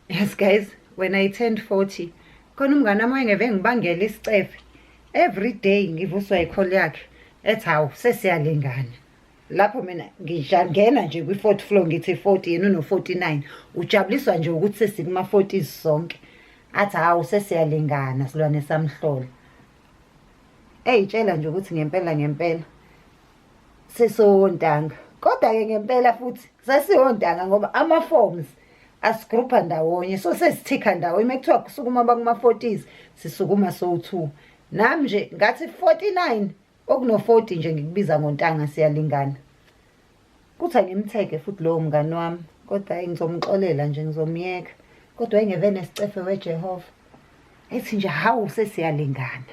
yes guys when i turned 40 khona umngane wami wayengeve ngibangele isicefe every day ngivuswa yikholo yakhe ethi hawu sesiyalingana lapho mina ngijangena nje kwi-fourth floor ngithi 40 yena uno-49 ujabuliswa nje ukuthi sesikuma-40s sonke athi hawu sesiyalingana silwane samhlola eyitshela nje ukuthi ngempela ngempela sisowontanga kodwa-ke ngempela futhi sasiwontanga ngoba ama-forms asigrupha ndawonye so sesithikha ndawonye uma kuthiwa kusukuma bakuma-forties sisukuma sowu-two nami nje ngathi 49 okuno-40 nje ngikubiza ngontanga siyalingana kuthi angimtheke futhi lowo mngani wami kodwa ayi ngizomxolela nje ngizomyeka kodwa engevene sicefe wejehova ethi nje hawu sesiyalingana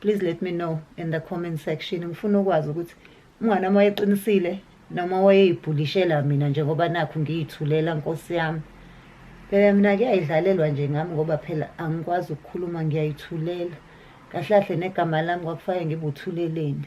please let me know in the comment section ngifuna ukwazi ukuthi umngane wami wayeqinisile noma wayeyibhulishela mina njengoba nakho ngiyithulela nkosi yami phela mina kuyayidlalelwa nje ngami ngoba phela angikwazi ukukhuluma ngiyayithulela kahle kahle negama lami kwakufanele ngibuthuleleni